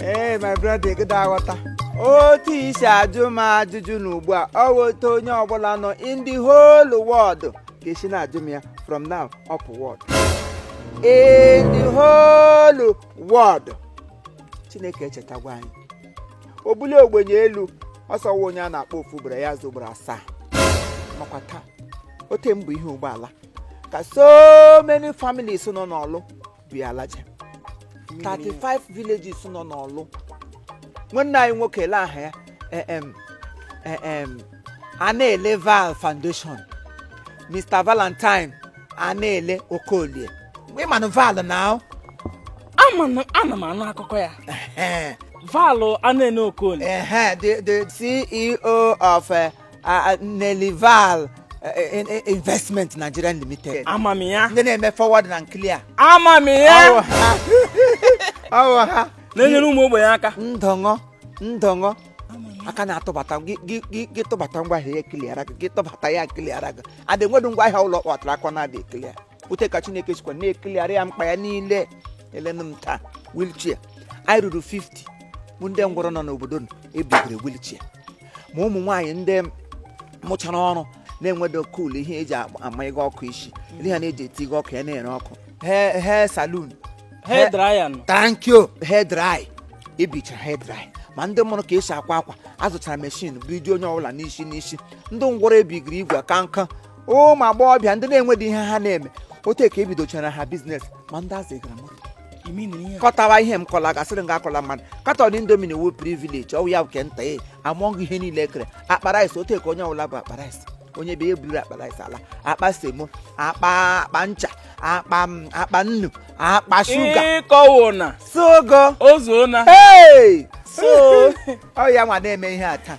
ee my brother ịgịda aghọta otu i si ajụ m ajụjụ na ugbu a ọ wụ otu onye ọbụla nọ in the whole world ga-esi na-ajụ m ya from now upward in the whole world chineke echetagwa anyị o bulie ogbenye elu ọsọwa onye a na-akpọ ofu ugboro ya aza ugboro asaa makwa taa ote mbụ ihe ụgbọala ka so many families nọ n'ọlụ by and large 35 villages nọ n'ọlụ nwanne anyị nwoke lee aha ya eh, em, eh, em, anele val foundation mr valentine anele okolie ị manụ val na ahụ ama na ana m anụ akụkọ ya val anele okolie ehe the the ceo of eh, ah, nelival eh, eh, investment nigeria limited ama m ya ndị na-eme forward na clear ama m ya ọwụ ha na-enyere ụmụ ogbenye aka ndọṅọ ndọṅọ aka na-atụbata gị- gị gị- gị tụbata ngwa ahịa ya ecleara gị gị tụbata ya ecleara gị adị nwedo ngwa ahịa ụlọ kpọtara akọ na-adị ecleara otu ka chineke sikwa na-ecleara ya mkpa ya niile elenụ m taa wheelchair ihe ruru 50 bụ ndị ngwọrọ nọ n'obodo nọ ebigiri wheelchair ma ụmụ nwaanyị ndị mụchara ọrụ na-enwedo kul ihe eji agba- ama ịga ọkụ isi ndị ha na-eji eti ịga ọkụ ya na-ere ọkụ he he salon Hair dryer nọ. thank you hair dry ebichara hair dry ma ndị mụrụ ka esi akwa akwa azụchara machine bụ iji onye ọbụla n'isi n'isi ndị ngwọrọ ebigiri igwe ka nka ụmụ agbọghọbịa ndị na-enwedo ihe ha na-eme otu ka ebidochara ha business ma ndị azụgara mmadụ You mean ihe a? kọtawa ihe m kọla gasịrị nga akọla mmadụ carton indomie wu privilege ọwụ ya bụ nke nta e among ihe niile ekere akpa rice otu ka onye ọbụla bu akpa rice onye bịa eburu akpa rice ala akpa semo akpa akpa ncha akpa m, akpa nnu akpa sugar ịkọwo na sogo ozuo na hey so ọ ya nwa na-eme ihe a taa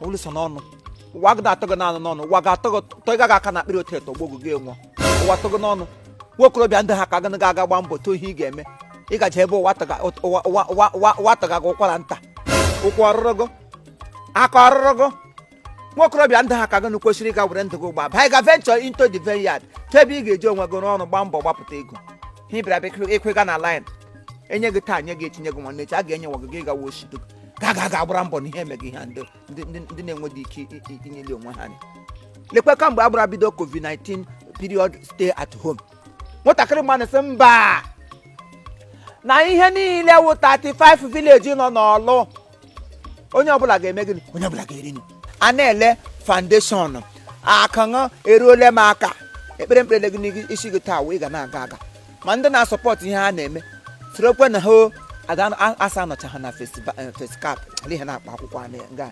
olu so n'ọnụ ụwa gị na-atọ gị n'anụ n'ọnụ ụwa ga-atọ gị tọ ị gaghị aka na akpịrị otu eto gbogụ gị enwụọ ụwa tọ gị n'ọnụ nwa okorobịa ndị ha ka gị ga-aga gba mbọ too ihe ị ga-eme ị gaje ebe ụwa taga ụwa- ụwa- ụwa- ụwa- ụwa taga gị ụkwara nta ụkwụ ọ rụrụ gị aka ọ rụrụ gị nwa okorobịa ndị ha ka gị nụ kwesịrị ịga were ndụ gị gba baa ịga venture into the vineyard tụ ebe ị ga-eji onwe gị rụọ ọrụ gbaa mbọ gbapụta ego ha ị bịara bịa ịkwega na line enye gị taa nye gị echi nye gị nwanne echi a ga-enye nwa gị gị gawa oshido ka a ga aga agbara mbọ na ihe emeghị ihe a ndị ndị- ndị- ndị na-enweghị ike i- i- inyeli onwe ha anya lekwe kamgbe a gbara bido covid-19 period stay at home nwatakịrị mmadụ sị mba na ihe niile wụ 35 village nọ n'ọlụ onye ọbụla ga-eme gịnị onye ọbụla ga-eri nri anele foundation aka unu eruole m aka ekpere m kpere gị n'isi gị taa wụ ị ga na-aga aga ma ndị na-asupport ihe ha na-eme sorokwe na ha asa anọcha ha na facecap ihe na-akpa akwụkwọ nga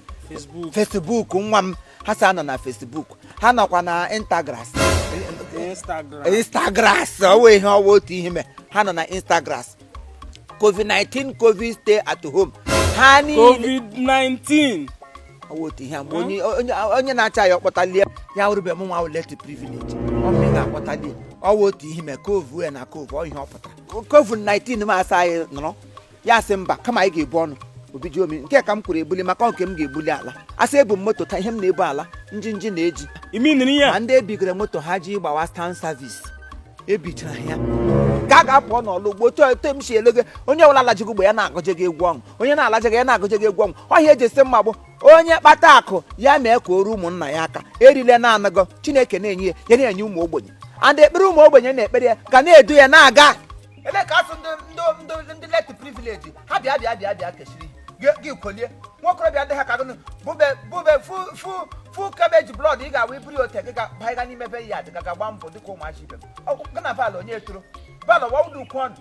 Facebook nwa m ha sa anọ na Facebook ha nọkwa na Instagram instagras ọ wụ ihe ọ wụ otu ihe me ha nọ na instagras covid-19 covid stay at home ha niile COVID-19 ọ wụ otu ihe a mgbe onye na-acha ya ọ kpọtalie ya wụrụbe m nwa wụ less privilege ọmị ga-akpọtalie ọ wụ otu ihe mee covid ya na covid ọ ihe ọ pụtara covid 19 ma asa anyị nọrọ ya sị mba kama anyị ga-ebu ọnụ obi ji omi nke ka m kwuru ebuli maka nke m ga-ebuli ala asị ebu m moto taa ihe m na-ebu ala njinji na-eji imi nri ya ma ndị ebigoro moto ha ji gbawa stan service ebichara ya ka a ga-apụ n'ọlụ ugbo otu otu m si ele gị onye ọbụla lajigo ugbo ya na-agọje gị egwu ọṅụ onye na-alaje gị ya na-agụje gị egwu ọṅụ ọhịa eji esi mma bụ onye kpata akụ ya mee ka o ruo ụmụnna ya aka erile na-anagọ chineke na-enye ya ya na-enye ụmụ ogbenye and ekpere ụmụ ogbenye na-ekpere ya ga na-edu ya na-aga ebe ka asị ndị ndị ndị ndị less privilege ha bịa bịa bịa bịa kechiri gị- gị kolie nwokorobịa ndị ha ka gụnụ bube bube fu fu fu cabbage blood ị ga-awụ iburu ya ote gị ga banyega n'ime be ya dị ga gba mbọ dịka ụmụachi ibe m Ọ- gị na bal onye etoro bal wawụdụ ukwu ọnụ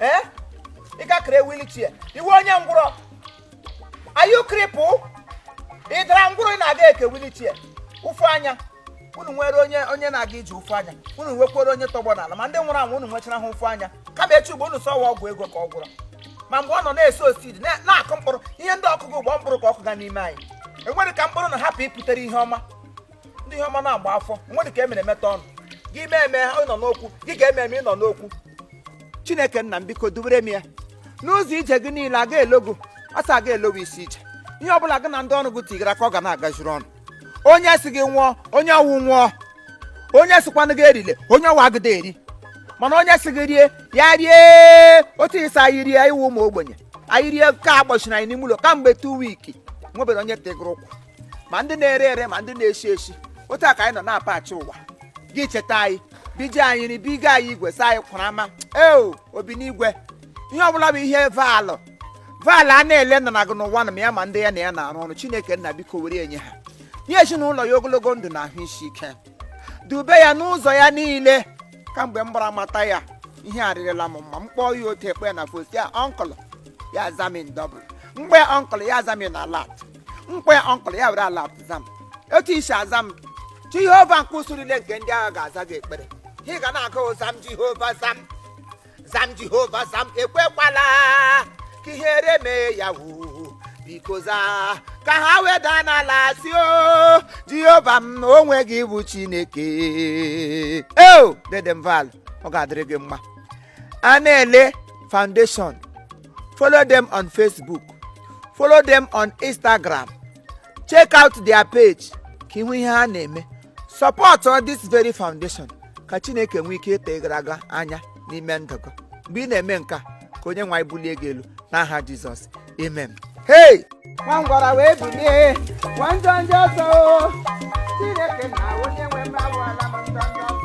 ee ị ga-ekere wheelchair ị wụ onye ngwụrọ are you cripple ị dara ngwụrọ ị na-aga eke wheelchair ụfụ anya unu nwere onye na-aga iji ụfụ anya unu nwekwara onye tọgbọ n'ala ma ndị nwụrụ anwụ unu nwechara ha ụfụ anya kama echi ugbo unu sịwa ọgwụ ego ka ọ gwụrụ ma mgbe ọ nọ na-eso seed na-akụ mkpụrụ ihe ndị ọkụkụ gbọ mkpụrụ ka ọkụ ga n'ime anyị enwere ka mkpụrụ na hapụ ịpụtere ihe ọma ndị ihe ọma na-agba afọ enwere ka e mere e meta ọnụ gị mee eme ha ịnọ n'okwu gị ga-eme eme ịnọ n'okwu chineke nna m biko dubere m ya n'ụzọ ije gị niile aga elogo asaa aga elogo isii ije ihe ọbụla gị na ndị ọrụ gị tigara aka ọ ga na-agaziri unu onye sị gị nwụọ onye ọ wụ nwụọ onye sịkwanụ gị erile onye ọ wụ agịda eri mana onye sị gị rie ya rie otu ị sị anyị rie iwu ụmụ ogbenye anyị rie ka agbachiri anyị n'ime ụlọ kamgbe two weeks nwebere onye tegoro ụkwụ ma ndị na-eri eri ma ndị na-eshi eshi otu a ka anyị nọ na-apachi ụwa gị cheta anyị biji anyị nri biga anyị igwe saa anyị kwara ama eo obi n'igwe ihe ọbụla bụ ihe Val Val a na-ele nna na gị n'ụwa na ma ya ma ndị ya na ya na-arụ ọrụ chineke nna biko were enye ha nye ezinụlọ ya ogologo ndụ na ahụ isi ike dube ya n'ụzọ ya niile kamgbe m gbara mata ya ihe arịrịla m mma m kpọọ ya otu ekpe na fosi ya uncle ya aza m in double mgbe uncle ya aza m in alert mgbe uncle ya were alert za m otu i si aza m jehova nke ụsụ niile nke ndị agha ga-aza gị ekpere ị ga na-agụ zaa m jehova zaa m zaa m jehova zaa m ekwekwala ka ihere mee ya woo biko zaa ka ha wee daa n'ala sị o jehova m onwe gị bụ chineke eo dede m val ọ ga-adịrị gị mma anaele foundation follow them on facebook follow them on instagram check out their page ka ị hụ ihe ha na-eme support this very foundation ka chineke nwee ike ịta gara aga anya n'ime ndụ gị mgbe ị na-eme nke a ka onye nwe anyị bulie gị elu n'aha jizọs amen hey nwa ngwọrọ wee bilie nwa njọ njọ ọsọ o. chineke na onye nwe m agwọọla m njọ njọ ọsọ